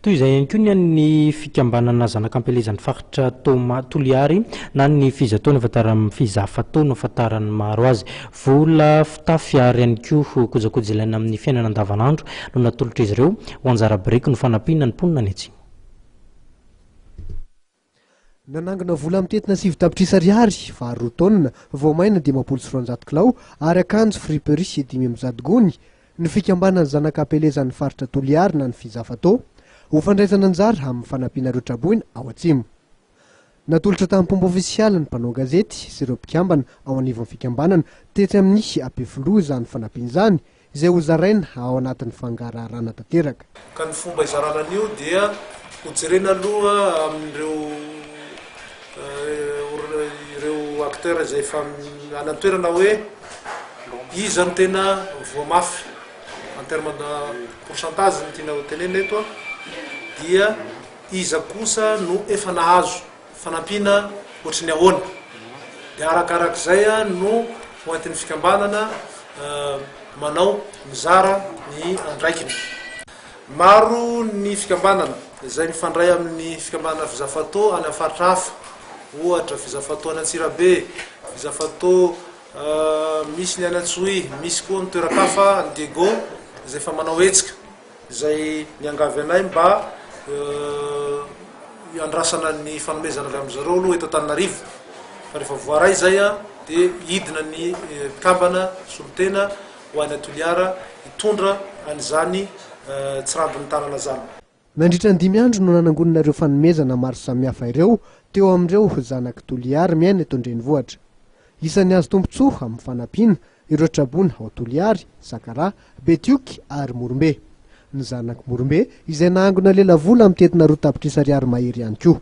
Toy izay ihany koa ny an'ny fikambanana zanak'ampelezan'ny faritra Toma Toliary na ny Fiza Tony afantaran'ny Fiza Fato no afantaran'ny maro azy. Vola, fitafy ary ihany koa kojakoja ilaina amin'ny fiainana andavanandro no natolotr'izy ireo ho anjara biriky no fanampiana ny mponina any atsimo. Nanangona vola mitentina sivy tapitrisa ariary, vary roa taonina, voamaina dimampolo sy roanjato kilao ary akanjo friperie dimy amby zato gony, ny fikambanan'ny Zanaka Ampelezan'ny faritra Toliary na ny Fizafato, ho fandraisana anjara amin'ny fanampiana ireo traboina ao Atsimo. Natolotra tamim-pomba ofisialy ny mpanao gazety sy ireo mpikambana ao anivon'ny fikambanana tetsy amin'ny Ampefiloha izany fanampiana izany, izay hozaraina ao anatin'ny fangaraharana tanteraka. Ka ny fomba hizarana an'io dia hojerena aloha amin'ireo ireo acteurs izay efa any an-toerana hoe iza no tena voa mafy en terme de pourcentage no tiana hotenenina eto dia iza kosa no efa nahazo Fanampiana ohatry ny ahoana? Dia arakarak'izay no ho entin'ny fikambanana manao, mizara ny andraikiny. Maro ny fikambanana izay mifandray amin'ny fikambanana Vizafato any amin'ny faritra hafa. Ohatra, Vizafato any Antsirabe, Vizafato misy ny any Antsohihy, misy koa ny toeran-kafa any Diego izay efa manao hetsika. izay niangavy anay mba hiandrasana ny fanomezana avy amin-dry zareo aloha eto Antananarivo, fa rehefa voaray izay dia hidina ny mpikambana solontena ho any Toliara hitondra an'izany tsirambin'ny tanana izany. Nandritra ny dimy andro no nanangonana ireo fanomezana maro samihafa ireo teo amin'ireo zanak'i Toliara miaina eto an-drenivohitra. Isan'ny azo tombontsoa amin'ny fanampiana ireo traboina ao Toliary, Sakaraha, Betioky ary Morombe. Ny zanak'i Morombe izay nahangona lelavola mitety na roa tapitrisa ariary mahery ihany koa.